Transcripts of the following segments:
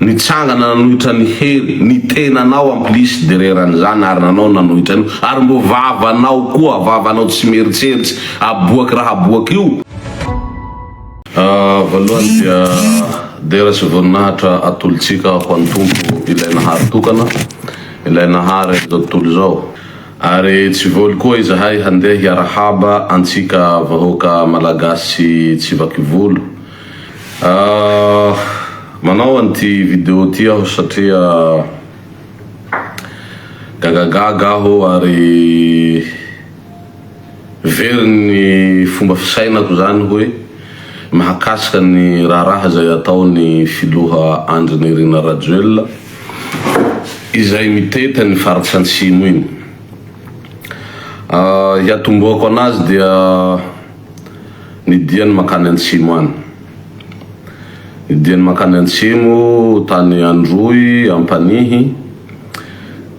Nitsangana nanohitra ny hery, ny tenanao amplice de reran'izany ary nanao ny nanohitra an'io ary mbo vavanao koa, vavanao tsy mieritseritsy aboaky raha aboaky io. Voalohany dia dera sy voninahitra atolotsika ho an'i Tompo ilay Nahary tokana, ilay Nahary an'izao tontolo izao. Ary tsy voly koa izahay handeha hiarahaba antsika vahoaka Malagasy tsivakivolo. Manao an'ity video ity aho satria gagagaga aho ary very ny fomba fisainako zany hoe mahakasika ny raharaha izay ataon'ny filoha Andry Nirina Rajoelina izay mitety an'i Faritra Antsimo iny. Hiatombohako anazy dia Ny diany mankany antsimo any. Ny diany mankany antsimo tany Androy Ampanihy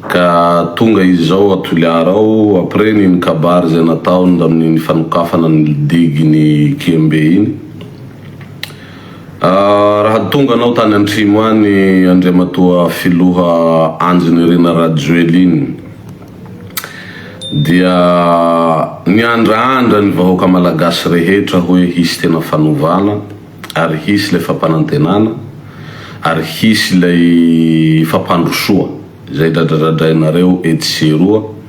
ka tonga izy izao a Toliara ao après n'iny kabary izay nataony tamin'iny fanokafana ny digue ny Kembe iny. Raha tonga anao tany antrimo any Andriamatoa Filoha Andry Nirina Rajoelina iny. dia miandrandra ny vahoaka malagasy rehetra hoe hisy tena fanovana ary hisy ilay fampanantenana ary hisy ilay fampandrosoa izay dradradradrainareo etsy sy eroa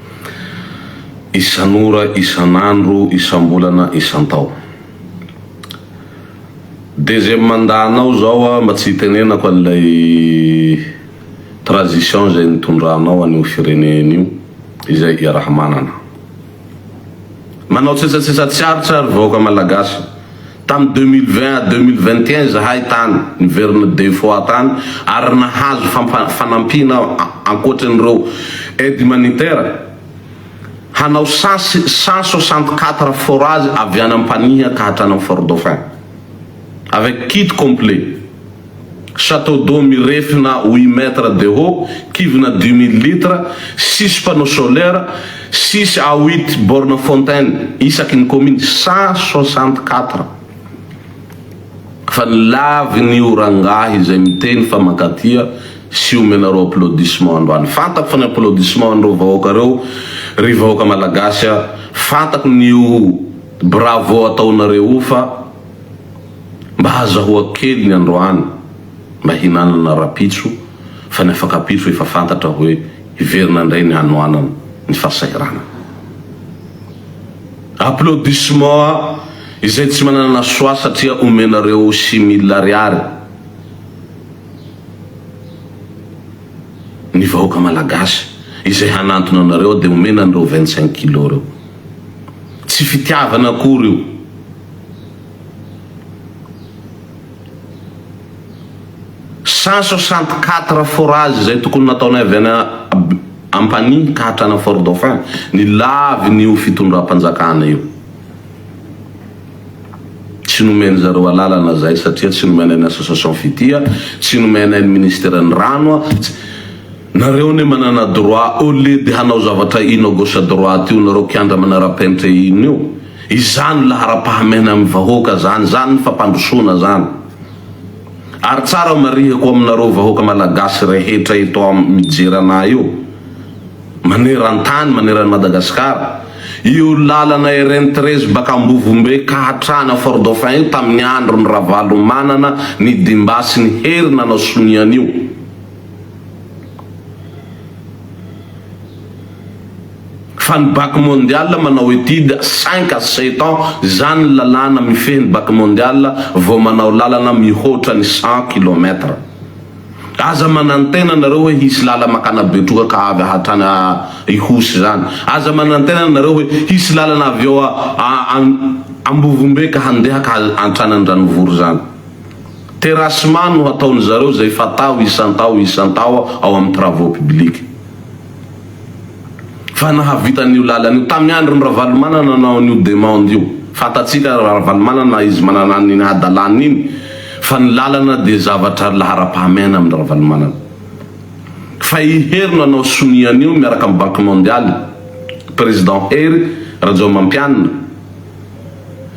isan'ora, isan'andro, isambolana, isantao. Deuxième mandat-nao zao mba tsy hitenenako an'ilay. Transition izay nitondranao an'io firenena io izay iaraha-manana. Manao tsetsatsesa tsy aritra ry vahoaka Malagasy. Tamin'ny deux mille vingt à deux mille vingt et un izahay tany niverina deux fois tany ary nahazo fanampiana ankoatry an'ireo aide humanitaire hanao sasy cent soixante quatre forage avy any Ampanihy ka hatrany amin'ny Fort Dauphin. avec kit complet, chateau d'eau mirefy na huit mètres de haut, kivina dix mille litres, six panneaux solaires, six à huit bornes fontaine isaky ny commune, cent soixante quatre. Fa ny lavin'io rangahy izay miteny fa mankatia sy omenareo applaudissement androany. Fantako fa ny applaudissement an'ireo vahoaka reo ry vahoaka malagasy a, fantako ny io bravo ataonareo io fa. Mba azahoako kely ny androany mba hinanana rapitso fa ny afakapitso efa fantatra hoe hiverina indray ny hanoanana ny fahasahiranana. Applaudissements izay tsy manana choix satria omenareo six mille ariary ny vahoaka malagasy izay hanantona anareo dia omena an'ireo vingt cinq kilos ireo. Tsy fitiavana akory io. Cent soixante quatre forages izay tokony nataonay avy any Ampanihy ka hatrany Fort Dauphin ny lavin'io fitondram-panjakana io. Tsy nomen-dry zareo alalana izay satria tsy nomenay ny association Fitia, tsy nomenay ny ministeran'ny rano, tsy Nareo anie manana droit au lieu de hanao zavatra ino à gauche à droite io nareo kianja manara-penitra ino io. Izany laharam-pahamehana amin'ny vahoaka zany, zany ny fampandrosoana zany. Ary tsara marihiko aminareo vahoaka Malagasy rehetra eto am mijery anah io, maneran-tany, maneran'i Madagasikara, io lalana RN treize baka Ambovombe ka hatrany Fort Dauphin io tamin'ny andron'i Ravalomanana nidimbasiny hery nanao sonia an'io. Fa ny bac mondial manao étude cinq à sept ans zany ny lalàna mifehy ny bac mondial vao manao lalana mihoatra ny cent kilomètre. Aza manantena nareo hoe hisy lala makana betroka avy hatrany à Ihosy zany. Aza manantena nareo hoe hisy lalana avy eo à Ambovombe ka handeha ka hatrany Andranovory zany. Terrassement no hataony zareo zay fatao isan-tao isan-tao ao amin'ny travaux publics. fa nahavita an'io lalana io tamin'ny andron'i Ravalomanana nanao an'io demande io, fantatsika Ravalomanana izy manana an'iny hadalany iny fa ny lalana dia zavatra laharam-pahamehana amin'i Ravalomanana fa i Hery no hanao sonia an'io miaraka amin'ny banque mondiale président Hery Rajaomampianina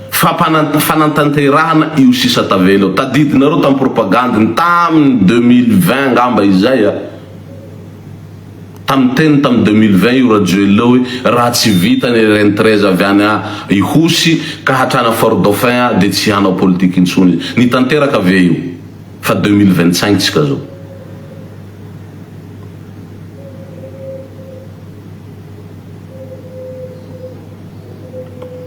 fa fanantanterahana io sisa tavela io, tadidinareo tamin'ny propagande-ny tamin'ny deux mille vingt angamba izay a. Tamin'ny niteny tamin'ny deux mille vingt io Rajoelina hoe raha tsy vita ny RN treize avy any a Ihosy ka hatrany a Fort Dauphin a dia tsy hanao politika intsony izy. Nitanteraka ve io? Fa deux mille vingt cinq tsika zao.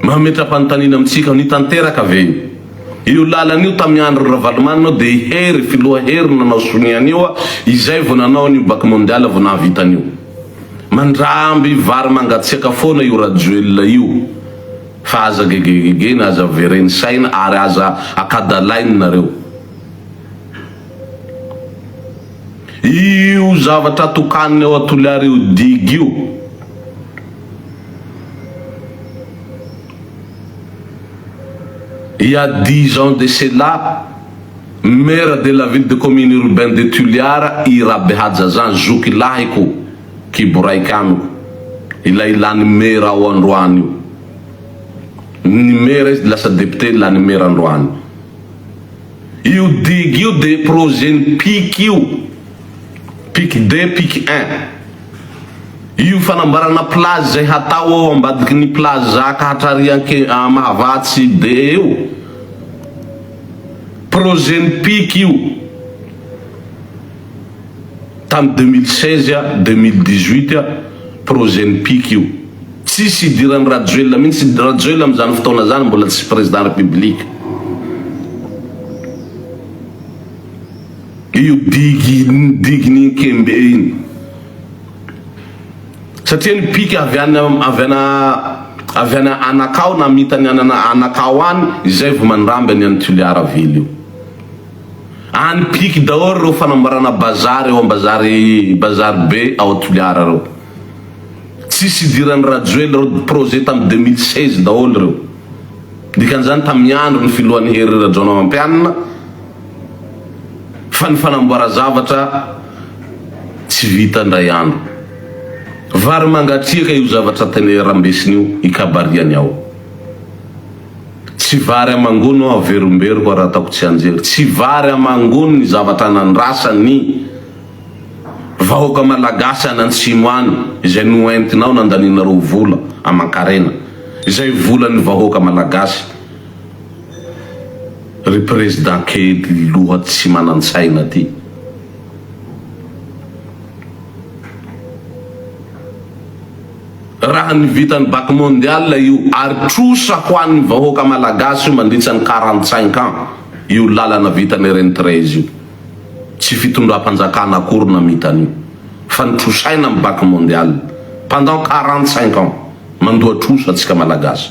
Mametra-panontaniana amintsika aho, nitanteraka ve io? Io lalana io tamy andro ry Ravalomanana dia i Hery filoha Hery nanao sonia an'io a, izay vao nanao an'io bac mondial vao nahavita an'io. Mandramby vary mangatsiaka foana io Rajoelina io fa aza gegegegeny aza vereny saina ary aza akadalainy nareo. Io zavatra tokaniny ao Toliara io digue io. Il y a dix ans de cela, maire de la ville de commune urbain de Toliara i Rabehajaja zoky lahiko, kibo raika amiko, ilay lany maire ao androany io. Ny maire izy dia lasa député lany maire androany. Io digue io dia projet-n'i Piky io. Pic de pic un. Io fanambarana plage izay hatao ao ambadiky ny plage zaka hatrarianke à mahavatsy be eo. Projet ny pic io tany deux mille seize à deux mille dix huit projet ny pic io. Tsisy idirany rajoelina mintsy, rajoelina am zany fotoana zany mbola tsy président république. Io diginikembe iny. Satria ny pika avy any avy any avy any anakao namita ny any anakao any izay vao mandramby any any Toliara ville io. Any piky daholo ireo fanamboarana bazary ao bazary bazary be ao Toliara ireo. Tsisy idiran'i Rajoely ireo projet tamin'ny deux mille seize daholo ireo. Dikan'izany tamin'ny andron'ny filohan'i Hery Rajaonarimampianina. fa ny fanamboaran-javatra tsy vita indray andro. Vary mangatsiaka io zavatra tena rambesiny io ikabariany ao. Tsy vary amangono aho averomberiko ary ataoko tsianjery. Tsy vary amangono ny zavatra nandrasan ny vahoaka malagasy any antsimo any izay noentinao nandanianareo vola aman-karena. Izay volan'ny vahoaka malagasy. Ry prezda kely loha tsy manantsaina ty. Raha ny vitan'ny bac mondial io ary trosa ho an'ny vahoaka malagasy io mandritsa ny quarante cinq ans io lalana vitan'i Reny Treize io. Tsy fitondram-panjakana akory namita an'io fa nitrosaina amin'ny bac mondial pendant quarante cinq ans. Mandoa trosa tsika malagasy.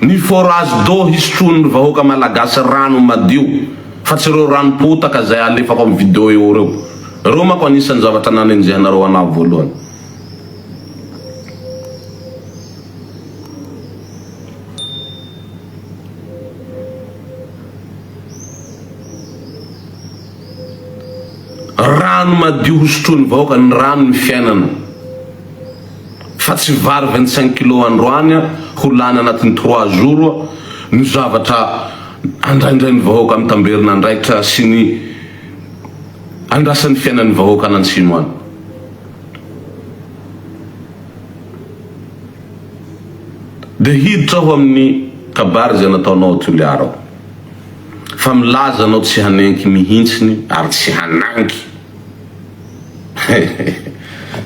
Ny forage d'eau hisotroan'ny vahoaka malagasy rano madio fa tsy ireo rano potaka izay alefako amin'ny video eo ireo. Ireo manko anisan'ny zavatra nanenjehanareo anaha voalohany. Rano madio hosotroan'ny vahoaka, ny rano ny fiainana. Fa tsy vary vingt cinq kilos androany ho lany anatin'ny trois jours no zavatra andraindrain'ny vahoaka mitamberina andraikitra sy ny andrasan'ny fiainan'ny vahoaka any antsimo any. Dia hiditra aho amin'ny kabary izay nataonao ao Toliara ao. Fa milaza anao tsy hanenky mihintsiny ary tsy hanangy.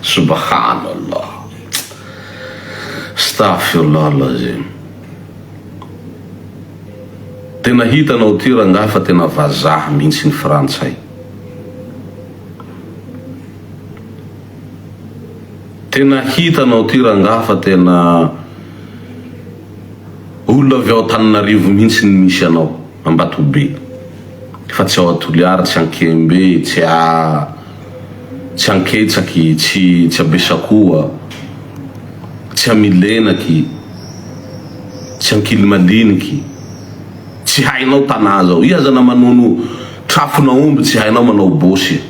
Subahana Allah Astaghfirullah Alazim Tena hitanao ty rangahy fa tena vazaha mihitsy ny frantsay Tena hitanao ty rangahy fa tena olona avy ao Antananarivo mihitsy ny misy anao Ambatobe Fa tsy ao a Toliary tsy ankembe tsy a tsy anketsaky tsy tsy a Besakoa tsy a Milenaky tsy ankilimaliniky tsy hainao tanà zao iha aza na manono trafon'aomby tsy hainao manao bosy e.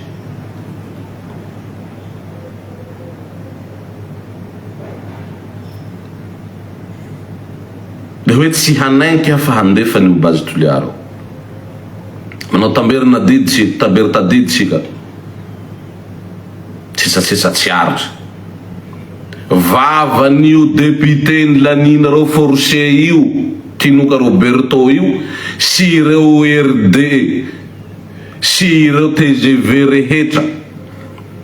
Le hoe tsy hanenky aho fa handefa ny ho base Toliary ao. Manao tamberin'adidy sy tamberin-tadidy isika. Sesasesa tsy aritra. Vavan'io député nilaniana reo force io, Tinoka Roberto io, sy ireo RD sy ireo tgv rehetra.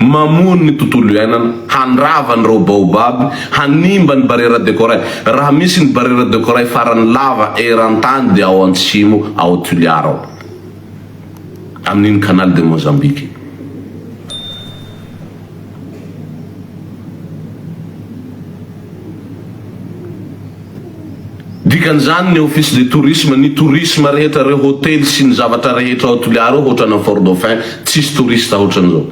Mamono ny tontolo iainana, handrava ny reo baobab, hanimba ny barrière de corail. Raha misy ny barrière de corail farany lava eran-tany dia ao antsimo ao Tuliar ao, amin'iny Canal de Mozambique iny. Dikan'izany ny Office de Tourisme, ny tourisme rehetra ireo hotely sy ny zavatra rehetra ao Toliara ao hoatrany am Fort Dauphin tsisy touriste hoatran'izao.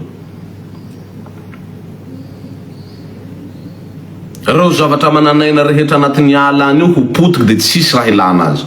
Ireo zavatra manan'aina rehetra anatin'ny ala any io ho potika dia tsisy raha ilana azy.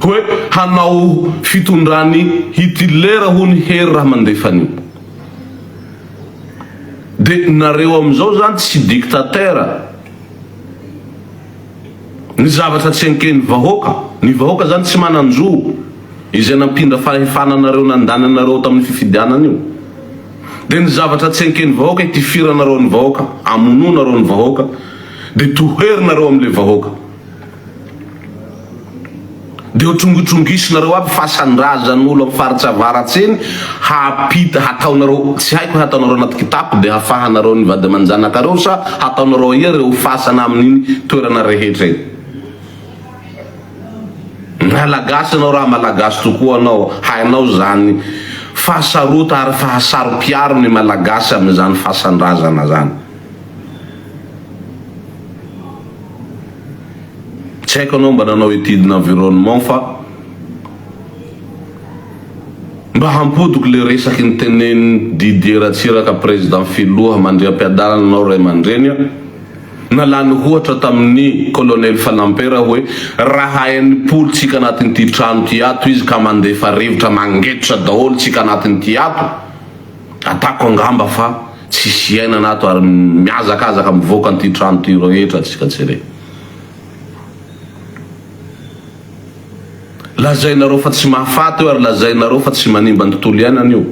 hoe hanao fitondran'i Hitler hono Hery raha mandefa an'io. Dia nareo amin'izao zany tsy dictateur. Ny zavatra tsy enken'ny vahoaka, ny vahoaka zany tsy manan-jo izay nampindra fahefana anareo nandany anareo tamin'ny fifidianana io. Dia ny zavatra tsy enken'ny vahoaka itifiranareo ny vahoaka, amonoanareo ny vahoaka, dia toherinareo amin'ilay vahoaka. Dia ho trongitrongisinareo aby fasan-drazan'olo am faritsy avaratsy eny hapita hataonareo tsy haiko hataonareo anaty kitapo dia hafahanareo ny vady aman-janakareo sa hataonareo aia reo fasana amin'iny toerana rehetra iny Malagasy anao raha Malagasy tokoa anao hainao zany fahasarota ary fahasaro-piaro ny Malagasy amin'izany fasan-drazana zany. Tsy haiko anao mba nanao étude d'environnement fa mba hampodiko le resaky ny tenenin'i Didier Ratsiraka président filoha mandriampiadanana anao ray aman-dreny a! na lany hohatra tamin'ny colonel Fanampera hoe raha enimpolo tsika anatin'ity trano ity ato izy ka mandefa rivotra mangetotra daholo tsika anatin'ity ato Atako angamba fa tsisy iainana ato ary mihazakazaka mivoaka an'ity trano ity rehetra antsika tsirairay. Lazainareo fa tsy mahafaty io ary lazainareo fa tsy manimba ny tontolo iainana io.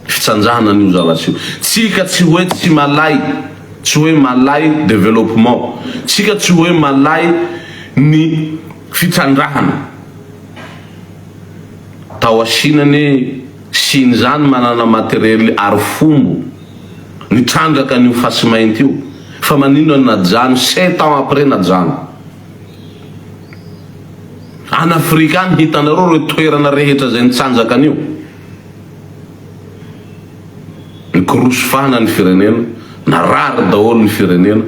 Fitsanjahana an'io zavatra io. Tsika tsy hoe tsy malay, tsy hoe malay développement, tsika tsy hoe malay ny fitsandrahana. Tao Chine anie. Siny zany manana materiel arifombo nitrandraka an'io fasimainty io fa maninona no najano sept ans après najano? Any afrika any hitanareo reo toerana rehetra zay nitsanjaka an'io? Nikoroso fana ny firenena, narary daholo ny firenena.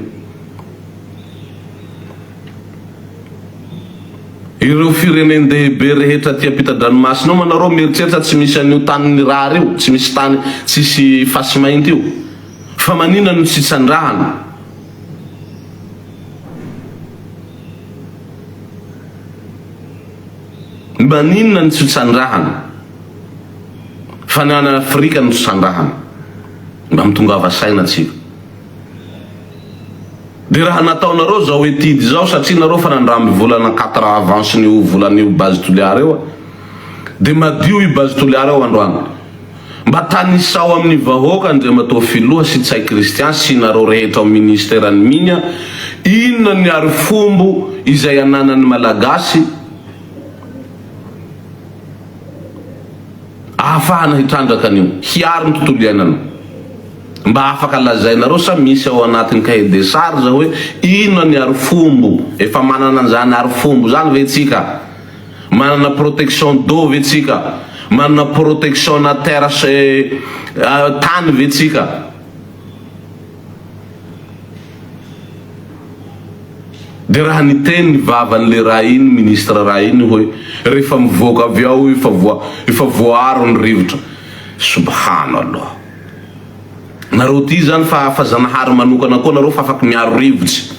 Ireo firenen-dehibe rehetra aty ampitan-dranomasina ao manareo mieritreritra tsy misy an'io tany nirary io, tsy misy tany tsisy fasimainty io, fa manina no tsy itsandrahana? Manina no tsy itsandrahana? Fa ny any Afrika no tsy itsandrahana? Mba mitongava saina tsika. Dia raha nataonareo zao etude izao satria nareo fa nandramby volana quatre avance n'io volan'io base Toliara io a! Dia madio i base Toliara io androany. Mba tanisao amin'ny vahoaka Andriamatoa Filoha sy Ntsay Christian sy nareo rehetra ao Ministeran'ny Mines a! Inona ny arifombo izay ananan'ny Malagasy? ahafahana hitrandraka an'io, hiaro ny tontolo iainana. Mba afaka lazainareo sa misy ao anatin'ny cahier des charges hoe inona ny arifombo? Efa manana an'izany arifombo izany ve tsika? Manana protection d'eau ve tsika? Manana protection-na terre tany ve tsika? Dia raha niteny ny vavan'i le ra iny ministre ra iny hoe rehefa mivoaka avy ao io efa voa efa voaaro ny rivotra. Subhana Allah. Nareo tia zany fa fa zanahary manokana koa nareo fa afaky miaro rivotsy.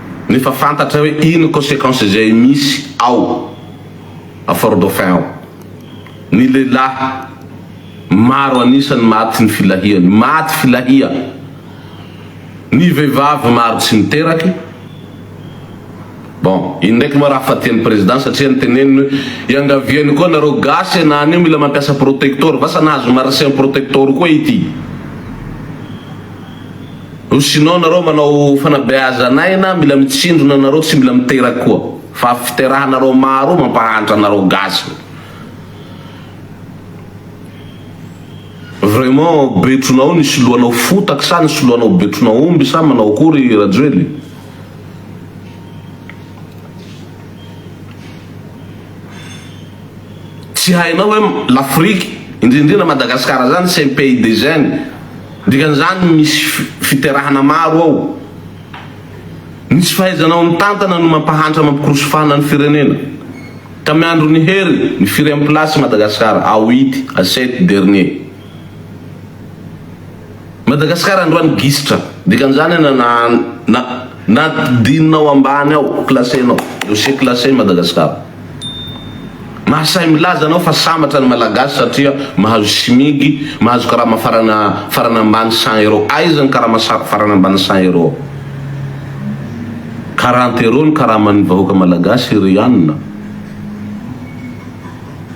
nefa fantatra hoe ino consequence izay misy ao a Fort Dauphin ao. Ny lehilahy maro an'isa no maty ny filahiany, maty filahia. Ny vehivavy maro tsy miteraky. Bon, iny ndraiky moa raha fa tian'ny Président satria ny teneniny hoe iangaviany koa nareo gasy ianà anio mila mampiasa protector, vasa nahazo marsian protector koa ity. Rusinao nareo manao fanabeazan aina mila mitsindrona nareo tsy mila miteraky koa fa fiterahanareo maro mampahantra anareo gasy vraiment betronao nisy lohanao fotaky sa nisy lohanao betrona omby sa manao akory rajoely Tsy hainao hoe l'Afrique, indrindra indrindra Madagascar izany c'est un pays de jeunes. Dikan'izany misy fiterahana maro ao. Ny tsy fahaizanao mitantana no mampahantra mampikorosofana ny firenena. Tamin'ny andron'i Hery, ny firy am'place i Madagascar? Ao it, a sept dernier. Madagasikara androany gisitra dikan'izany an na na na dinao ambany ao classé nao dossier classé Madagasikara mahasahy milaza anao fa sambatra ny malagasy satria mahazo smig mahazo karama farana farana ambany cent euro aiza ny karama farana ambany cent euro quarante euro ny karaman'ny vahoaka malagasy ry anona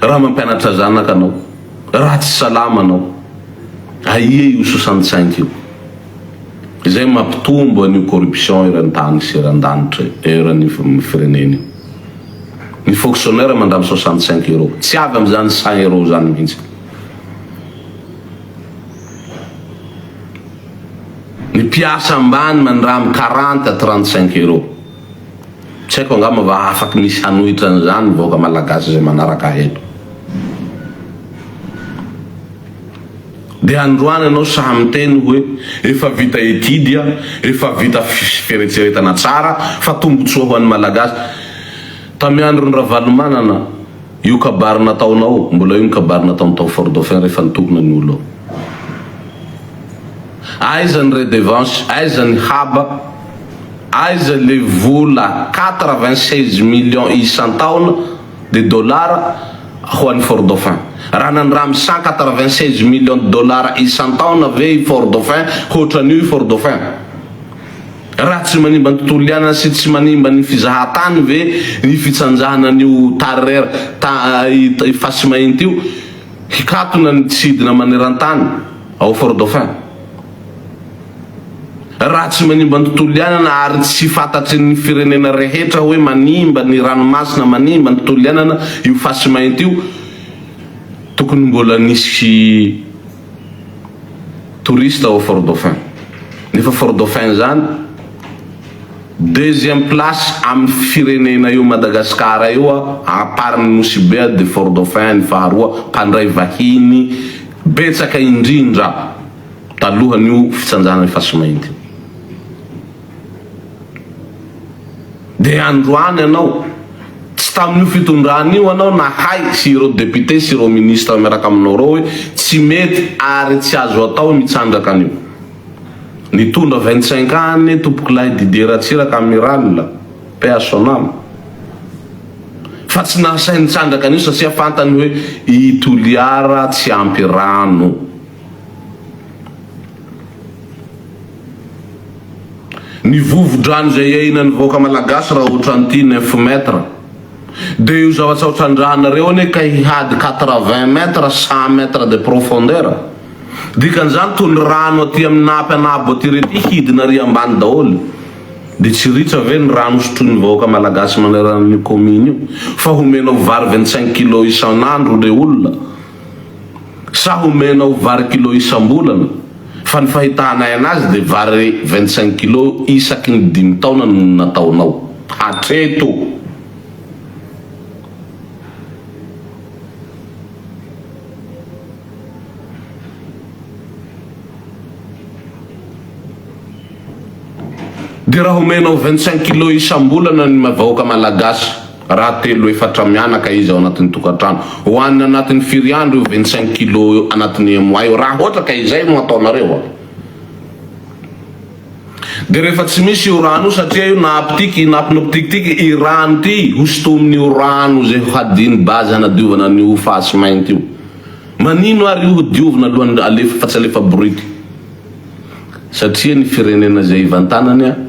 Raha mampianatra zanaka anao, raha tsy salama anao, aia io sosan-tsaingy io? Izay mampitombo an'io corruption eran-tany sy eran-danitra io, eran'ny firenena io. Ny fonctionnaire mandany soixante cinq euros, tsy avy amin'izany cent euros izany mihitsy. Ny mpiasa ambany mandramy quarante à trente cinq euros. Tsy haiko angamba va afaky misy hanohitra an'izany ny vahoaka malagasy izay manaraka ahy eto. Dia androany ianao sahy miteny hoe efa vita étude an, efa vita fieretseretana tsara fa tombotsoa ho an'ny malagasy. Tamin'ny andron'i Ravalomanana, Io kabary nataonao, mbola io ny kabary nataony tao Fort Dauphin rehefa nitokona ny olo. Aiza ny redevance, aiza ny haba, aiza le vola quatre vingt seize millions isan-taona de dollars ho an'i Fort Dauphin. Raha nandramy cent quatre vingt seize millions de dollars isan-taona ve i Fort Dauphin, hoatran'io i Fort Dauphin? Raha tsy manimba ny tontolo iainana sy tsy manimba ny fizahan-tany ve ny fitsanjahana an'io Tarrer ta i Fasimainty io hikatona ny tsy hidina maneran-tany ao Fort Dauphin? Raha tsy manimba ny tontolo iainana ary tsy fantatry ny firenena rehetra hoe manimba ny ranomasina, manimba ny tontolo iainana io Fasimainty io, tokony mbola nisy. touristes ao Fort Dauphin. Nefa Fort Dauphin izany deuxième place amin'ny firenena eo Madagascar eo à part ny Nosy Be dia Fort Dauphin ny faharoa mpandray vahiny betsaka indrindra talohan'io fitsanjana ny fasimainty io. Dia androany ianao, tsy tamin'io fitondrana io ianao nahay sy ireo députés sy ireo ministres miaraka aminao ireo hoe tsy mety ary tsy azo atao ny hitsandraka an'io. Nitondra vingt-cinq ans anie tompokolahy Didier Ratsiraka Amiral, paix à son âme. Fa tsy nahasahy nitsandraka an'io satria fantany hoe i Toliara tsy ampy rano. Ny vovo-drano izay iainan'ny vahoaka malagasy raha otran'ity neuf mètres dia io zavatra otran-drahanareo anie ka hihady quatre-vingts mètres, cent mètres de profondeur. Dikan'izany toa ny rano aty amin'ny napy anabo aty rety hidina ary ambany daholo. Dia tsy ritra ve ny rano sotroin'ny vahoaka malagasy manerana an'io commune io fa homenao vary vingt-cinq kilos isan'andro le olona? Sa homenao vary kilo isam-bolana? Fa ny fahitahanay anazy dia vary vingt cinq kilo isaky ny dimy taona no nataonao hatreto. Dia raha homenao vingt cinq kilo isam-bolana ny vahoaka malagasy? Raha telo efatra mianaka izy ao anatin'ny tokantrano, hohanina anatin'ny firy andro io vingt cinq kilos io anatin'ny un mois io? Raha ohatra ka izay no ataonareo an! Dia rehefa tsy misy io rano io satria io naaptiky i napnoptiky ty i rano ty hosotomin'io rano izay ho hadino base hanadiovana an'io fasy mainty io. Manino ary io ho diovina alohan'ny alefa fa tsy alefa bority? Satria ny firenena izay ivantanany an!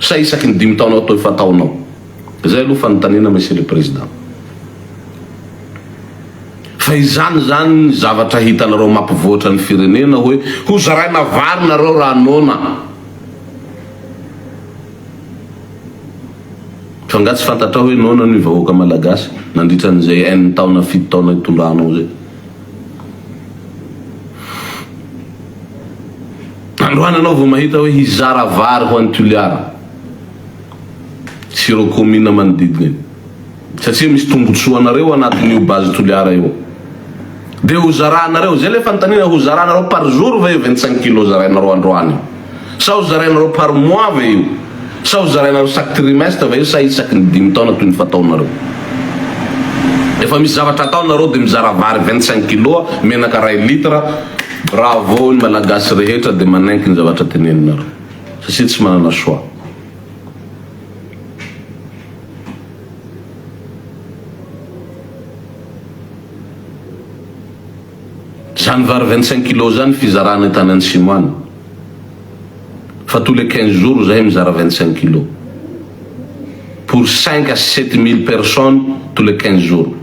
Sa isaky ny dimy taona ato efa ataonao? Zay aloha fanontaniana Monsieur le Président. Fa izany zany ny zavatra hitanareo mampivoatra ny firenena hoe ho zaraina vary nareo raha noana. Fa nga tsy fantatrao hoe noana ny vahoaka Malagasy nandritra an'izay enina taona fito taona itondranao zay? Androany anao vao mahita hoe hizara vary ho an'i Toliara sy ireo commune manodidina iny satria misy tombotsoa anareo anatin'io base Toliara io dia ho zaranareo, zay ilay fanontaniana, ho zaranareo par jour ve io 25 kilos zarainareo androany? Sa ho zarainareo par mois ve io? Sa ho zarainareo chaque trimestre ve io sa isaky ny dimy taona toy ny fataonareo? Efa misy zavatra atao nareo de mizara vary vingt cinq kilos, menaka ray litre, bravo ny malagasy rehetra de manaiky ny zavatra teneninareo satsia tsy manana choix. Zany vary vingt cinq kilos zany fizarana tany antsimo any fa tous les quinze jours zahay mizara vingt cinq kilos pour cinq à sept mille personnes tous les quinze jours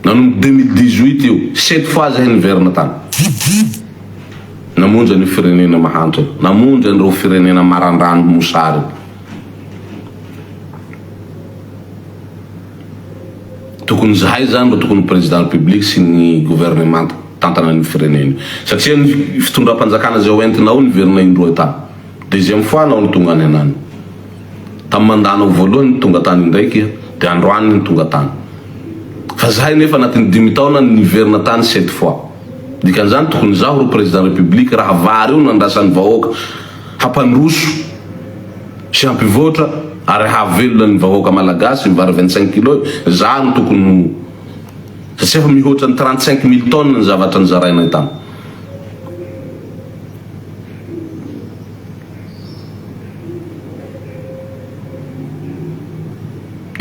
nanomboka deux mille dix huit io sept fois zahay niverina tany namonjy an'io firenena mahantra io namonjy an'ireo firenena marandrano mosary Tokony zahay zany no tokony président république sy ny gouvernement tantana an'io firenena io satria ny fitondram-panjakana zay hoentina ao niverina indroa tany deuxième fois anao no tonga any anany tam mandat-nao voalohany ny tonga tany indraiky de androany ny tonga tany fa zahay nefa anatin'ny dimy taona ny niverina tany sept fois dikan'izany tokony zaho ro président république raha vary io nandrasan'ny vahoaka hampandroso Tsy hampivoatra ary hahavelona ny vahoaka malagasy ny vary vingt cinq kilo e! Zah no tokony ho satsia efa mihoatra ny trente cinq mille tonnes ny zavatra nizarainay tany.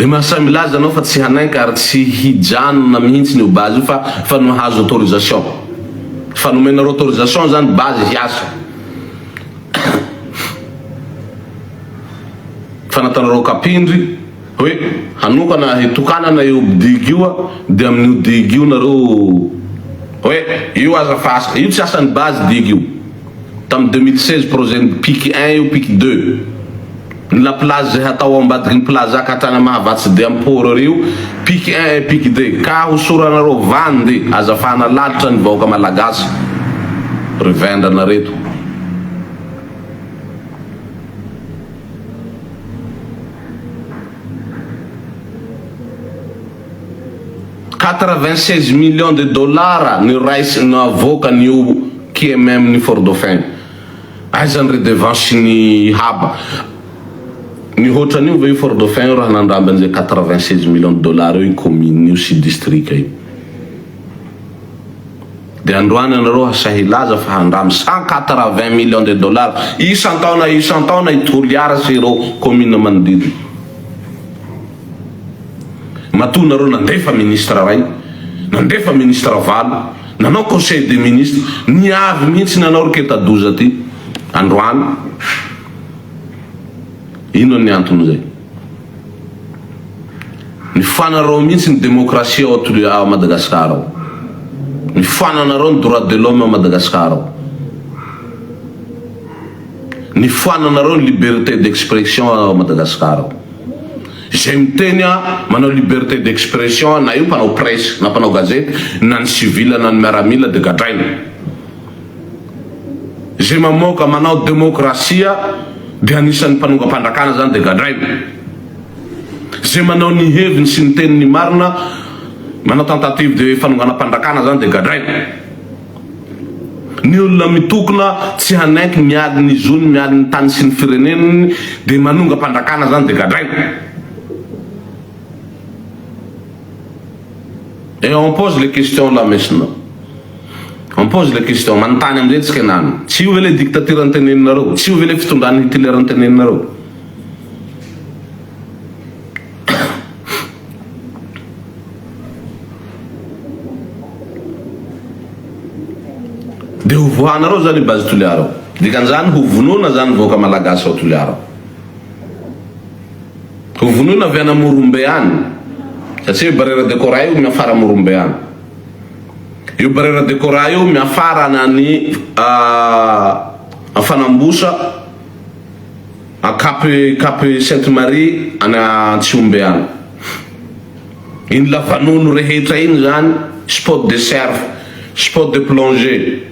Dia mahasahy milaza anao fa tsy hanaiky ary tsy hijanona mihintsy ny eo base io fa efa nahazo autorisation. Efa nomenareo autorisation zany base hiasa. Fa nataonareo kapindry hoe hanokana hitokanana io digue io a, de amin'io digue io nareo hoe io aza fa asa, io tsy asan'ny base digue io, tamin'ny 2016 projet-n'i pic un io, pic deux. Ny la plage izay hatao ao ambadiky ny plaza ka hatrany Mahavatsy dia am port rio pic un et pic deux ka hosoranareo van de aza fahana lalitra ny vahoaka malagasy ry vendrana reto. Quatre vingt seize millions de dollars no raisiny no avoakany io QMM ny fort dauphin io. Aiza ny redevance ny haba? Mihoatra an'io ve io fort dauphin io raha nandramby an'izay quatre vingt seize millions de dollars eo io commune io sy district io? Dia androany ianareo hasahy hilaza fa handramby cent quatre vingt millions de dollars isan-taona isan-taona i Toliara sy ireo commune manodidina. Matoa nareo nandefa ministre ray, nandefa ministre valo, nanao conseil des ministres, niavy mihitsy nanao ry ketadoza ty androany, inona ny antony zay? Ny fanareo mihitsy ny demokrasia ao Toli ao Madagascar ao, ny fananareo ny droit de l'homme ao Madagascar ao. ny foananareo ny liberté d'expression ao Madagascar ao. Izay miteny a manao liberté d'expression a na io mpanao presse na mpanao gazety na ny civil na ny miaramila de gadraina. Izay mamoaka manao demokrasia de anisan'ny mpanongam-pandrakana zany de gadraina. Izay manao ny heviny sy ny teniny marina manao tentative de fanonganam-pandrakana zany de gadraina. Ny olona mitokona tsy hanaiky mialy ny zony mialy ny tany sy ny fireneniny dia manonga mpandrakana zany dia gadraina et on pose les questions là maintenant on pose les questions manontany amizay tsika enano tsy io ve le dictature nteneninareo tsy io ve le fitondran'i Hitler nteneninareo Dia ho voanareo zany i Base Toliara ao. Dikan'izany ho vonoina zany ny vahoaka Malagasy ao Toliara ao. Ho vonoina avy any Amorombe any. Satria io Barrière de Corail io miafara Amorombe any. Io Barrière de Corail io miafara any any Fanambosa A Cap Cap Sainte Marie any Antsihombe any. Iny lavanonony rehetra iny zany spot de surf, spot de plongée.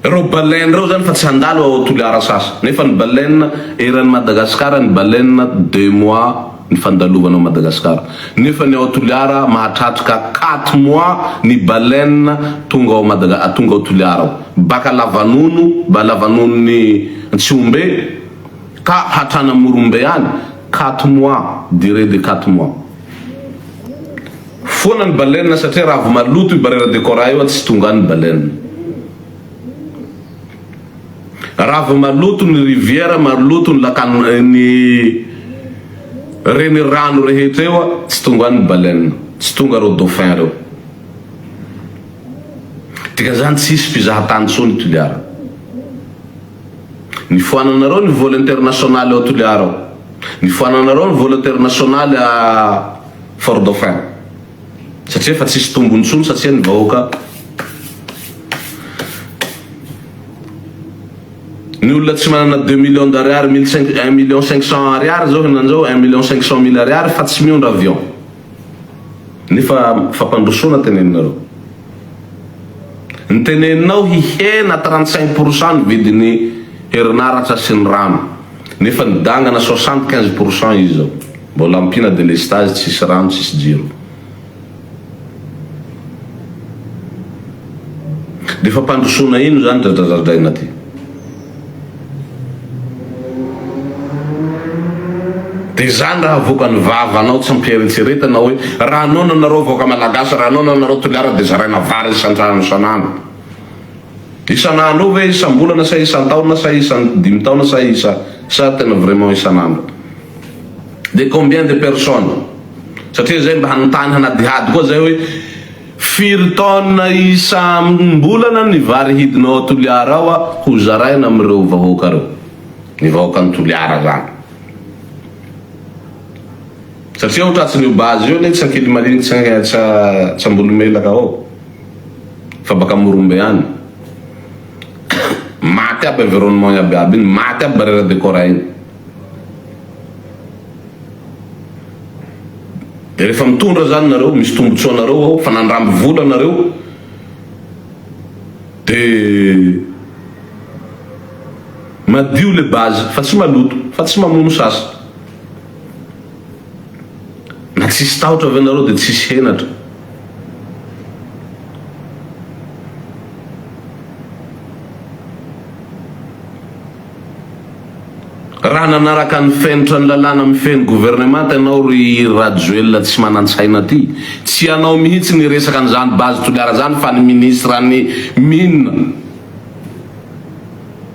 Reo baleine reo zany fa tsy handalo ao Toliara sasy. Nefa ny baleine eran'i Madagasikara ny baleine deux mois. ny fandalovana ao Madagascar nefa ny ao Toliara mahatratrka quatre mois ny baleine tonga ao Madaga tonga ao Toliara ao baka Lavanono ba Lavanono ny Tsihombe ka hatrany Morombe any quatre mois durée de quatre mois foana ny baleine satria raha vao maloto io barrière de corail io tsy tonga any ny baleine. Raha vao maloto ny riviera, maloto ny lakan ny renirano rehetra eo a, tsy tonga any ny baleine, tsy tonga reo dauphin reo. Dikan'izany tsy hisy fizahan-tany intsony i Toliara. Nifoananareo ny vol international ao Toliara ao, nifoananareo ny vol international à Fort Dauphin. Satria efa tsisy tombony intsony satria ny vahoaka Ny olona tsy manana deux millions d'ariary mille cinq un million cinq cent ariary zao henany zao un million cinq cent mille ariary fa tsy miondra avion nefa fampandrosoana teneninareo ny teneninao hihena trente cinq pour cent ny vidin'ny herinaratra sy ny rano nefa nidangana soixante quinze pour cent izy zao Mbola ampiana delestazy tsisy rano tsisy jiro. Dia fampandrosoana ino izany dradradradraina ty. Dia izany raha avoakan'ny vavanao tsy ampieretseretana hoe raha noana nareo vahoaka malagasy raha noana nareo toliara dia zaraina vary isantrano isan'andro. Isan'andro eo ve, isam-bolana sa isan-taona sa isan-dimy taona sa isa sa tena vraiment isan'andro? Dia combien de personnes? Satria zay mba hanontany hanadihady koa zay hoe firy taona isam-bolana ny vary hidinao ao Toliara ao ho zaraina amin'ireo vahoaka reo? Ny vahoakan'i Toliara zany. Satria ao Tratsin'io base io anie tsy Ankilimaliny tsy Ambohilomelaka ao. fa baka morombe any maty aby environnement iaby aby iny maty aby barrière de corps iny de rehefa mitondra zany nareo misy tombotsoa nareo ao fa nandramby vola nareo de madio le base fa tsy maloto fa tsy mamono sasa Na tsisy tahotra ve nareo de tsisy henatra. Raha nanaraka ny fenitra ny lalàna mifehy gouvernemanta ianao ry Rajoelina tsy manantsaina ty, tsy ianao mihitsy niresaka an'izany base Toliara zany fa ny ministre ny mines.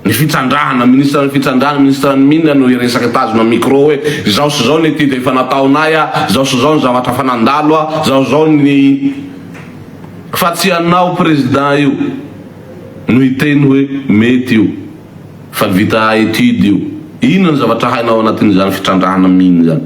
Ny fitsandrahana, ministra ny fitsandrahana, ministra ny mine no hiresaka tazona micro hoe izao sy izao ny ity dia efa nataonay a, izao sy izao ny zavatra efa nandalo a, izao sy izao ny fa tsy ianao président io no hiteny hoe mety io fa vita étude io, inona ny zavatra hainao ao anatin'izany fitrandrahana mine izany?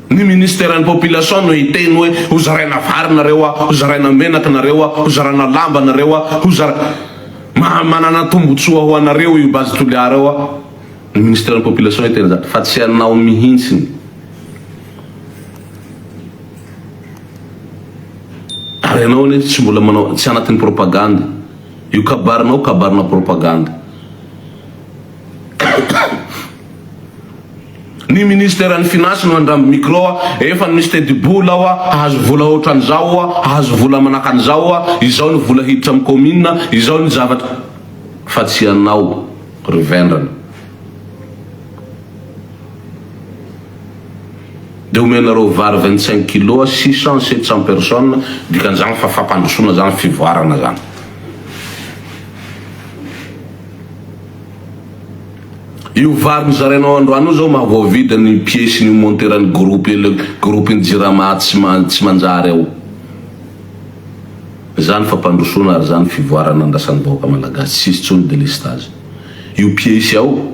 Ny ministeran'ny population no hiteny hoe ho zaraina vary nareo a, ho zaraina menaka nareo a, ho zarana lamba nareo a, ho zara. Maha manana tombotsoa ho anareo io base Toliara io a. Ny ministeran'ny population hiteny izany fa tsy anao mihintsiny. Ary ianao anie tsy mbola manao, tsy anatin'ny propagande. Io kabarinao, kabarina propagande. Ny ministeran'ny Finances no handramby micro a! Efa no misy tetibola aho a! Hahazo vola ohatran'izao aho a! Hahazo vola manaka an'izao aho a! Izao ny vola hiditra amin'ny commune a! Izao ny zavatra. Fa tsy ianao ry vendrana. Dia omenareo vary vingt cinq kilos six cent, sept cent personnes, dikan'izany fa fampandrosoana izany, fivoarana izany. Io vary nozarainao androany io zao maha voavidy ny piesiny io monteran'ny groupe le groupe ny jirama tsy tsy manjary ao. Zany fampandrosoana ary zany fivoarana andrasan'ny vahoaka malagasy tsisy tsony delestage io piesy ao.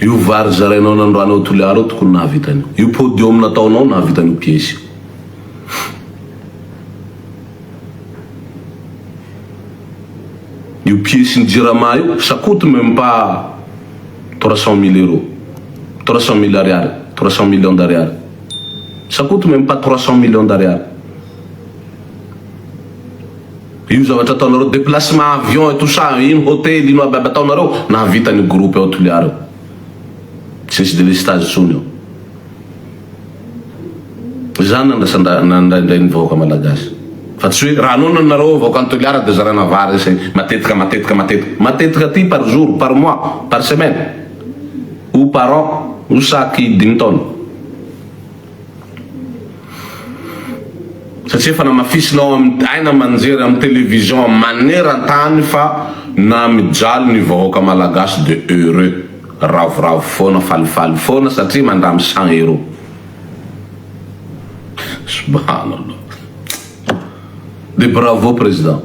Io vary zarainao nandroany ao toliara io tokony nahavita an'io. Io podium nataonao nahavita an'io piesy io. Io piece ny jirama io ça coute meme pas trois cent mille euros trois cent mille ariary trois cent millions d'ariary ça coute meme pas trois cent millions d'ariary io zavatra ataonareo déplacement avion et tout ça ino hôtel ino aby aby ataonareo nahavita ny groupe ao Toliara io tsy nisy delestazy intsony ao Izany no andrasandrahana indraindray ny vahoaka malagasy. Fa tsy hoe raha noana nareo vahoaka any Toliara dia zarana vary sy matetika matetika matetika matetika aty par jour, par mois, par semaine ou par an ou chaque dimy taona. Satria efa namafisinao amin'ny aina aman-jery amin'ny télévision maneran-tany fa na mijaly ny vahoaka malagasy dia heureux. Ravoravo foana falifaly foana satria mandramy cent euro subhanallah de bravo président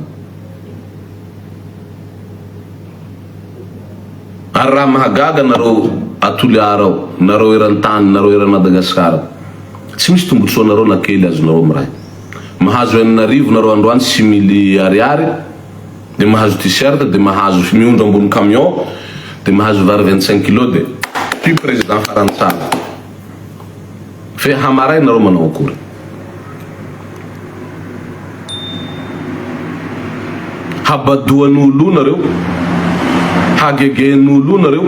ary raha mahagaga nareo atoliara ao nareo erantany nareo eran madagascar tsy misy tombotsoanareo na kely azonareo miray mahazo enina arivo nareo androany simily ariary de mahazo t-shirt de mahazo sy miondro ambony camion de mahazo vary vingt cinq kilos de ty président farany tsara fe hamaray nareo manao akory habadoan olo nareo hagegen olo nareo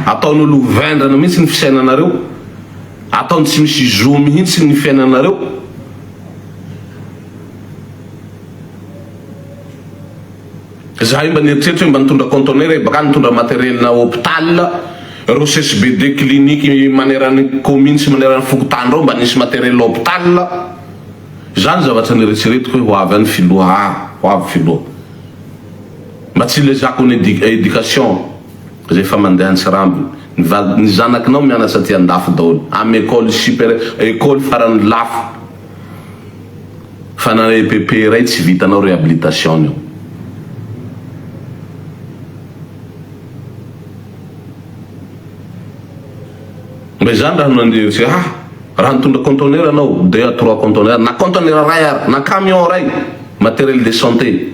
ataon olo ho vendrana mihitsy ny fisainanareo ataony tsy misy zo mihitsy ny fiainanareo Zahay mba nieritreritra hoe mba nitondra conteneur e, bakany nitondra matériel na hôpital, reo CSBD clinique maneran'ny commune sy maneran'ny fokontany reo mba nisy matériel hôpital, za ny zavatra nieretseretiko hoe ho avy any filoha aa, ho avy filoha, mba tsy ilezako ny éducation zay efa mandeha antsirambina, ny vady, ny zanakinao mianatra aty andafy daholo am école supérieure, école farany lafo. fa na EPP iray tsy vitanao réhabilitation io. Mba izany raha nandeha tsy ah raha nitondra conteneur anao deux à trois conteneur na conteneur iray ary na camion iray matériel de santé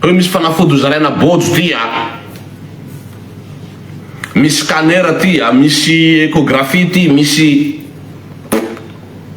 hoe misy fanafody hozaraina bojo ty a misy scanner ty a misy échographie ty misy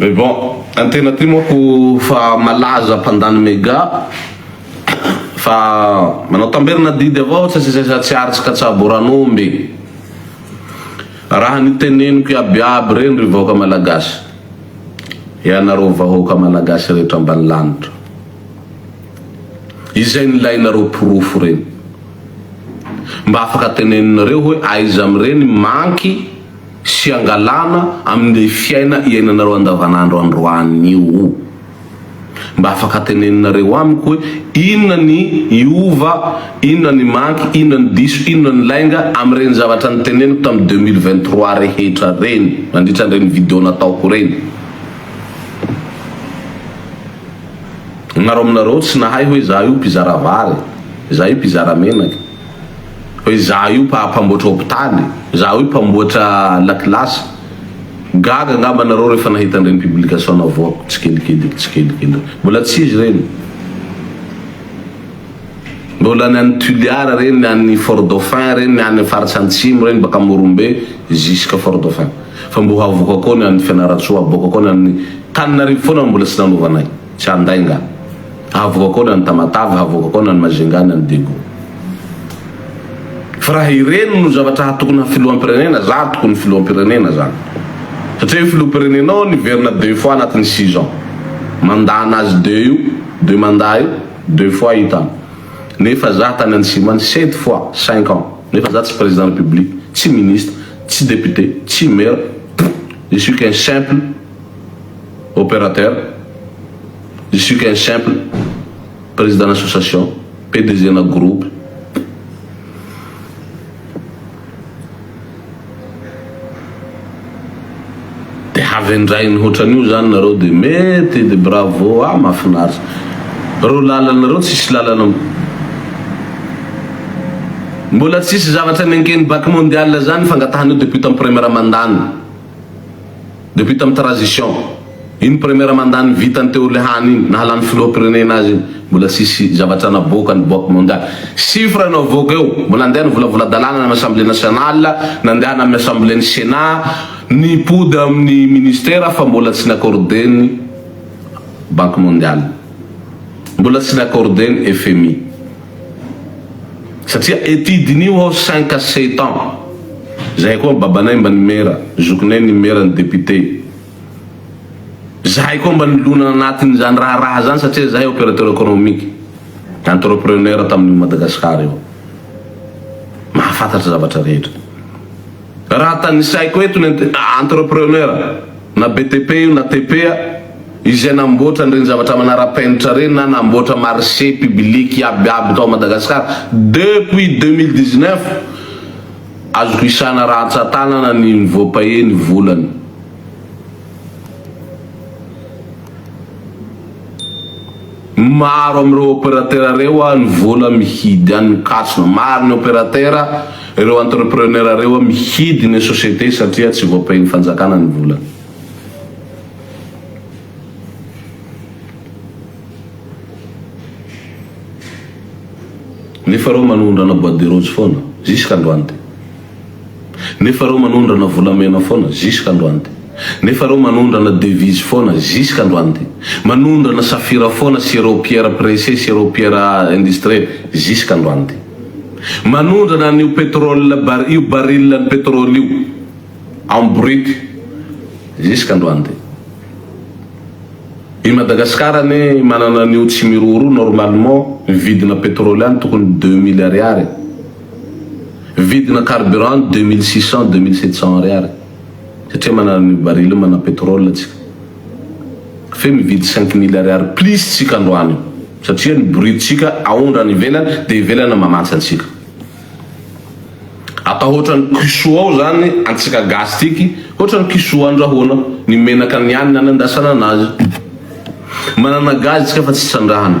Mais bon, antena ty moko fa malaza mpandany mega fa manao tamberina didy avao tsy sesesa tsy aritsy ka tsabo ran'omby raha niteneniko iaby iaby reny ry vahoaka malagasy ianareo vahoaka malagasy rehetra ambany lanitra izay nilainareo porofo reny Mba afaka teneninareo hoe aiza amin'ireny manky sy angalana amin'ilay fiaina iainanareo andavanandro androany io? Mba afaka teneninareo amiko hoe inona ny hiova, inona ny manky, inona ny diso, inona ny lainga amin'ireny zavatra niteneniko tamin'ny deux mille vingt trois rehetra ireny nandritra an'ireny video nataoko ireny? Nareo aminareo tsy nahay hoe izaho io mpizara vary, izaho io mpizara menaka, hoe izaho io mpamboatra hopitaly, izaho io mpamboatra lakilasy. Gaga angamba nareo rehefa nahita an'ireny publication navoako tsikelikely tsikelikely. Mbola tsy izy ireny. Mbola ny any Tuliara ireny, ny any Fort Dauphin ireny, ny any faritra antsimo ireny, baka Morombe jusqu'à Fort Dauphin. Fa mbola havoaka koa ny any Fianarantsoa, havoaka koa ny any Taninarivo foana no mbola tsy nanovanay. Tsy handay nga. Hahavoakao na ny Tamatave, hahavoakakao na ny Majunga na ny Daegu. Fa raha ireny no zavatra hatokonà filoham-pirenena, za tokony filoham-pirenena zany. Satria io filoham-pirenena io niverina deux fois anatin'ny six ans. Mandat nazy deux io, deux mandat io, deux fois hitany. Nefa za tany antsimo any sept fois, cinq ans. Nefa za tsy président république, tsy ministre, tsy député, tsy maire, je suis qu'un simple. opérateur, je suis qu'un simple président association, PDG na groupe. De havendrainy hoatran'io zany nareo de mety de bravo ah mafinaritra reo lalanareo tsisy lalana Mbola tsisy zavatra nenken'ny bac mondial zany fangatahan'io depute am premier mandany. Depuis tamin'ny trazision iny première mandat ny vitany teo lehany iny nahalany filoham-pirenena azy iny mbola tsisy zavatra naboaka ny boaky mondialy. Chiffre no avoaka eo. Mbola andeha ny volavola-dalàna any amin'ny assemblée nationale, nandehana amin'ny assemblée ny senat, nipody amin'ny ministère fa mbola tsy n'accordé ny banque mondiale. Mbola tsy n'accordé ny FMI. Satria ety diniho aho cinq à sept ans zahay koa babanay mba nimera, zokinay nimera ny député. Zahay koa mba nilona anatin'izany raharaha zany satria zahay opérateur économique, entrepreneur tamin'io Madagascar io. Mahafantatra zavatra rehetra. Raha tanisaiko eto ny entrepreneur na BTP io na TP izay namboatra an'ireny zavatra manara-penitra ireny na namboatra marché public iabiaby tao Madagascar depuis deux mille dix-neuf azoko isana rantsan-tanana ny voapaye ny volany. Maro amin'ireo opérateur ireo no vola mihidy an' ny kasina. Maro ny opérateur, ireo entrepreneur ireo mihidy ny société satria tsy voapain'ny fanjakana ny volany. Nefa ireo manondrana bois de rose foana, jusqu'à androany. Nefa reo manondrana volamena foana jusqu'à androany ty. Nefa reo manondrana devise foana jusqu'à androany ty. Manondrana safira foana sy reo pierre pressée sy reo pierre industrie jusqu'à androany ty. Manondrana an'io pétrole bar io baril an'ny pétrole io en brut jusqu'à androany ty. I Madagascar anie manana an'io tsy miroro io normalement ny vidina pétrole any tokony deux mille ariary. Vidina carburant deux mille six cent, deux mille sept cent ariary satria manana an'io baril manana pétrole antsika. Fe mividy cinq mille ariary plus tsika androany io satria ny bourrique tsika aondra any ivelany dia ivelany mamantsy antsika. Atao hoatrany cuisseau ao zany antsika gasy tiky hoatrany cuisseau andrahoana ny menaka ny any nanandrasana anazy. Manana gaz tsika fa tsy trandrahana.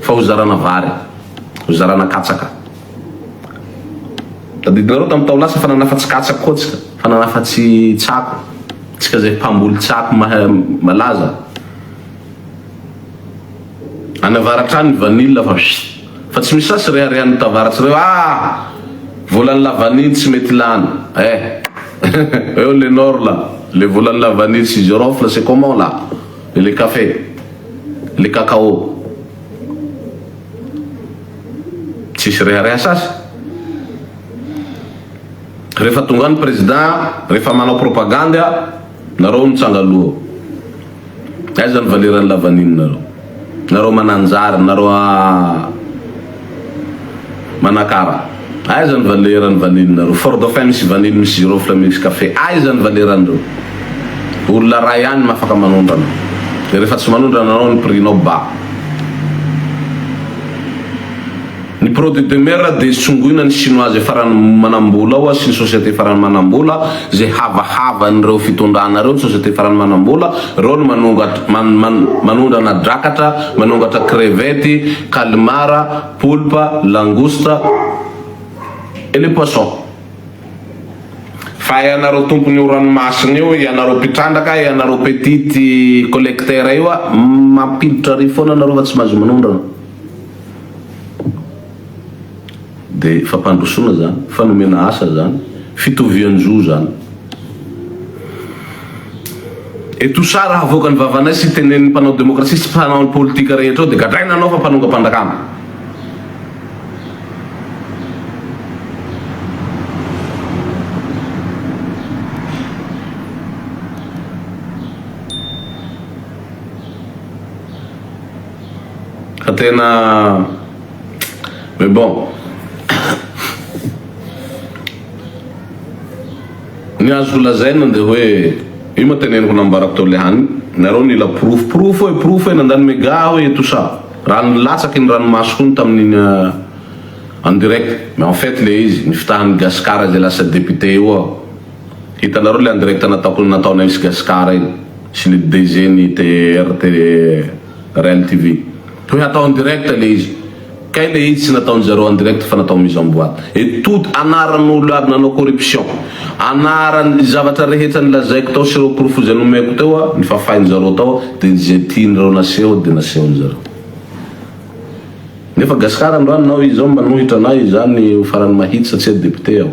Fa ho zarana vary, ho zarana katsaka. Tadidinareo tamin'ny tao lasa fa nanafa tsy katsaka koa tsika, fa nanafa tsy tsako, tsika zay mpamboly tsako malaza. Any avaratra any ny vanille fa pss. Fa tsy misy sasy reharehan'ny tavaratsy reo ah! Volan'ny la vanille tsy mety lany eh! Eo le nord la, le volan'ny la vanille sy girofle c'est comment la? Le café, le cacao, tsisy rehareha sasy. Rehefa tonga any président, rehefa manao propagande nareo mitsanga loha. Aiza ny valeran'ny lavanilonareo? Nareo mananjary, nareo. Manakara, Aiza ny valeur ny vanille nareo? Fort Dauphin misy vanille misy girofle misy café aiza ny valeur an'ireo? Olona ray ihany no afaka manondrana dia rehefa tsy manondrana anao ny prix nao ba. Ny produit de mer dia tsongoina ny chinoise farany manambola ao sy ny société farany manambola Izay havahavan'ireo fitondrana ireo, ny société farany manam-bola, ireo no manongat man man manondrana drakatra, manongatra crevette, calmar, poulpe, langouste et les poissons. Fa ianareo tompon'ny io ranomasina io, ianareo mpitrandraka, ianareo petit collecteur io a, mampiditra riz foana ianareo fa tsy mahazo manondrana. Dia fampandrosoana izany, fa nomena asa izany, fitovian-jo izany. Etosa raha avoaka ny vavanay sy tenenin'ny mpanao demokrasia sy mpanao politika rehetra ao dia gadraina anao fa mpanongam-pandakana. Fa tena. Mais bon, ny azo lazaina dia hoe io ma teneniko nambarako tao le hany, nareo nila porofo, porofo e, porofo e, nandany mega aho e, tout ça, raha nilatsaka ny ranomasoko iny tamin'iny euh, en direct, mais en fait le izy, ny fitahan'i Gascar izay lasa député io aho, hitanareo le en direct nataoko, nataonay sy Gascar iny, sy le DG-n'ny TRT, Rem TV. Toy hatao en direct le izy. Kay le izy tsy nataon zareo en direct fa natao mise en boite. Et tout anaran olo aby nanao corruption. Anaran ny zavatra rehetra nilazaiko tao sy ireo porofo izay nomeko teo a, nifafain zareo tao de izay tian reo naseho de nasehon zareo. Nefa Gascar androany nao izao manohitra anay izany ho farany mahitsy satsia député aho.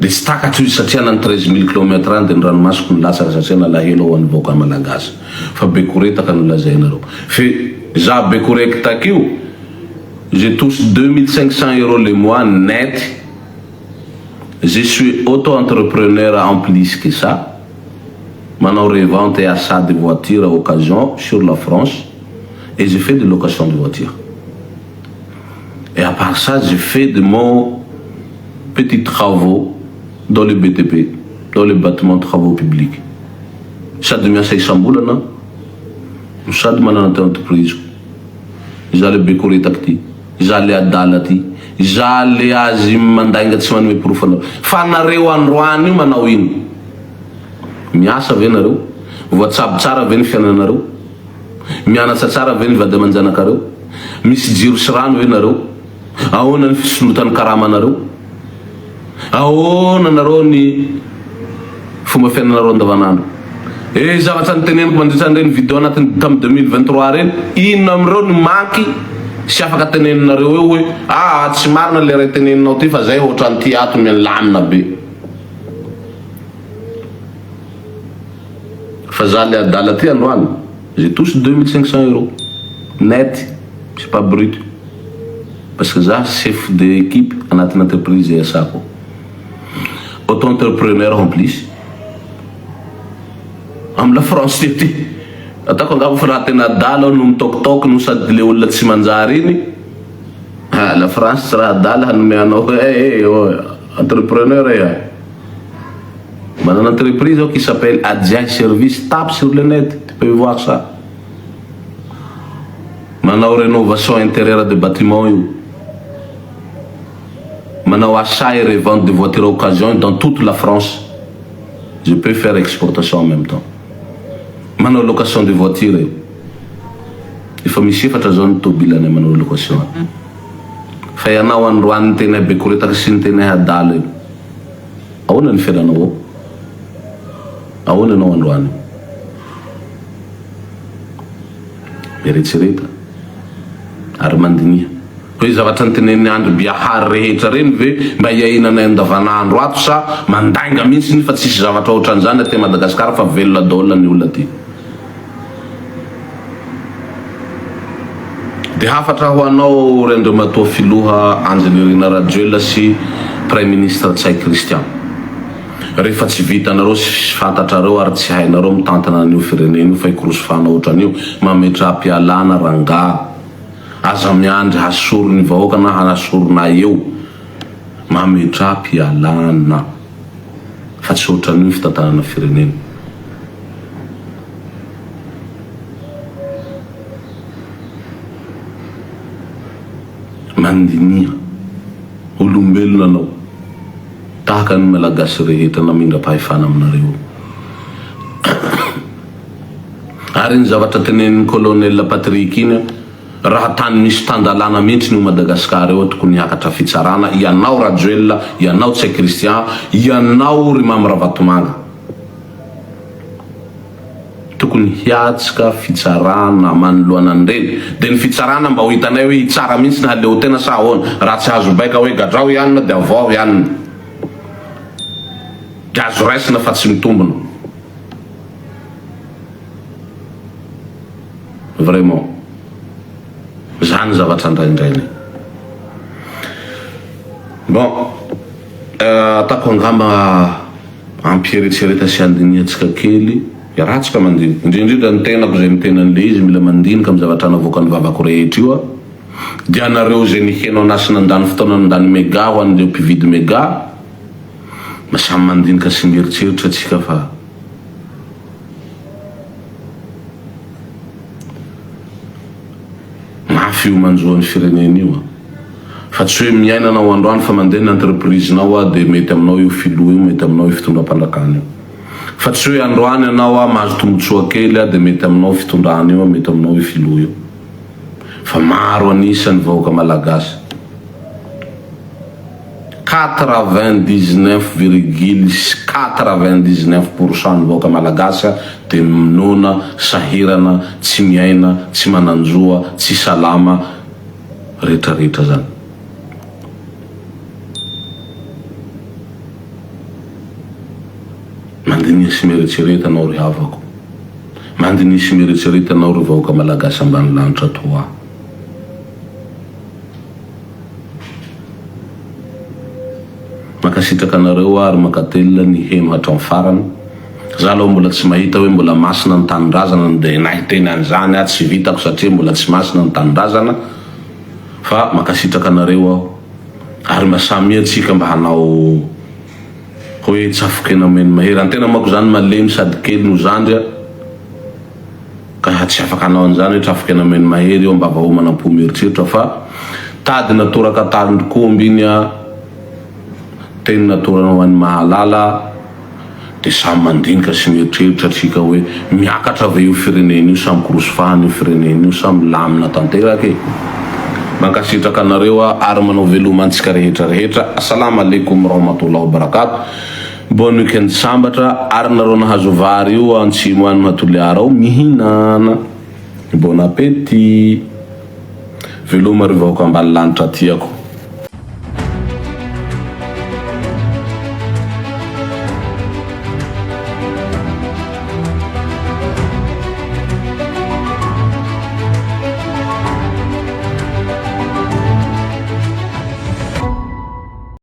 Dia tsy takatro izy satria na ny treize mille kilomètre any dia ny ranomasoko nilatsaka satria nalahelo hoan'ny vahoaka malagasy fa bekoretaka no lazainareo fe za bekorektak io je touche deux mille cinq cents euro le mois net je suis auto entrepreneur en plus que ça manao revente et achat de voiture occasion sur la France et je fais de location de voiture Et à part ça je fais de mon petit travaux dans le BTP, dans le battement travaux publics, sady miasa isambolana no sady manana ty entreprise-ko, izaho le be koretaka ty, izaho le adala ty, izaho le azy mandainga tsy manome porofo anareo, fa nareo androany io manao ino? Miasa ve nareo? Voatsabo tsara ve ny fiainanareo? Mianatsa tsara ve ny vady aman-janakareo? Misy jiro sy rano ve nareo? Ahoana ny fisondrotan'ny karamanareo? Ahoana nareo ny fomba fiainanareo andavanandro? Eh zavatra niteneniko mandritra an'ireny video anatin'ny tamin'ny deux mille vingt trois ireny, inona amin'ireo no manky sy afaka teneninareo eo hoe aa tsy marina le ray teneninao ty fa zay hoatran'ity ato milamina be. Fa za le adala ty androany j'ai touche deux mille cinq cents euros net c'est pas brut parce que za chef de equipe anatin'ny entreprise iasako auto entrepreneur en plus am la France ity ataoko angamba fa raha tena adala aho no mitaokitaoky no sady le olona tsy manjary iny ah la France tsy raha adala hanome anao eh eh oh entrepreneur eh Manana entreprise aho qui s'appelle Adjay service, tape sur le net, tu peux voir ça. Manao renovation intérieure de bâtiment io. Manao achat et revente de voiture occasion dans toute la France. Je peux faire exportation en même temps. Manao location de voiture io. Efa misy efatra zao ny tobile anay manao location. Fa ianao androany niteny abekoretaka sy niteny ahadala io. Ahoana ny fiainanao ao? Ahoana ianao androany? Eretsereta ary mandiniha. Hoe zavatra nitenenin'i Andry Biahary rehetra ireny ve mba iainanay andavanandro ato sa mandainga mihitsy ny fa tsisy zavatra ohatran'izany aty Madagascar fa velona daholo ny olona aty. Dia hafatra ho anao ry Andriamatoa Filoha Andry Nirina Rajoelina sy Praiminisitra Ntsay Christian. Rehefa tsy vitanareo sy tsy fantatrareo ary tsy hainareo mitantana an'io firenena io fa ikorosofana otran'io mametraha-pialana rangaha. Aza miandry hasoron'ny vahoaka na hanasoronay eo. Mametraha-pialana. fa tsy ohatran'io ny fitantanana firenena. Mandiniha, olombelona anao, tahaka ny Malagasy rehetra namindra-pahefana aminareo. Ary iny zavatra tenenin'i Colonel Patrick iny aho, Raha tany misy tan-dalàna mihitsy ny ho Madagascar eo tokony hiakatra fitsarana ianao Rajoelina, ianao Tsay Christian, ianao ry Mamy Ravatomanga. Tokony hiatsika fitsarana manoloana an'ireny. Dia ny fitsarana mba ho hitanay hoe hitsara mihitsy ny haleotena sa ahoana. Raha tsy azo baika hoe gadrao i anona dia avoaho i anona. Dia azo raisina fa tsy mitombina. Vraiment. Zany zavatra andraindrainay. Bon, ataoko angamba ampieretsereta sy andinihantsika kely ratsy ka mandinika. Indrindrindra ny tenako izay miteny an'ilay izy mila mandinika amin'ny zavatra navoakan'ny vavako rehetra io aho. Dia anareo izay niheno an'ahy sy nandany fotoana nandany mega ho an'ireo mpividy mega, samy mandinika sy mieritreritra tsika fa. Mafy io manjo an'ny firenena io an! Fa tsy hoe miaina anao androany fa mandeha ny entreprise nao an dia mety aminao io filoha io mety aminao io fitondram-panjakana io fa tsy hoe androany ianao an mahazo tombotsoa kely an dia mety aminao io fitondrana io an mety aminao io filoha io fa maro an'isa ny vahoaka malagasy Quatre-vingt-dix-neuf virgule quatre-vingt-dix-neuf pour cent ny vahoaka malagasy dia minoana, sahirana, tsy miaina, tsy manan-joa, tsy salama, retraretra zany. Mandiniha sy mieretsereta anao ry havako. Mandiniha sy mieretsereta anao ry vahoaka malagasy ambany lanitra toa ahy. Mankasitraka anareo ary mankatelina niheno hatramin'ny farany. Za aloha mbola tsy mahita hoe mbola masina ny tanindrazana no dia na hiteny an'izany aho tsy vitako satria mbola tsy masina ny tanindrazana fa mankasitraka anareo aho ary mba samia tsika mba hanao hoe tsafokena omeny mahery an-tena manko zany malemy sady kely no zandry a. Ka tsy afaka hanao an'izany hoe trafoka eny Ameno Mahery eo am-bava homana am-po mieritreritra fa tadina toraka talin-dRkoomby iny a! Teny natorana ho an'ny mahalala dia samy mandinika sy mieritreritra atsika hoe miakatra ve io firenena io sa mikorosy fahana io firenena io sa milamina tanteraka e! Mankasitraka anareo aho ary manao veloma antsika rehetra rehetra. Assalama Alaikum Warahmatullahi Wabarakatuh. Bonne weekend sambatra ary nareo nahazo vary io antsimo any ma Toliara ao mihinana bon appetit veloma ry vahoaka ambanilanitra tiako.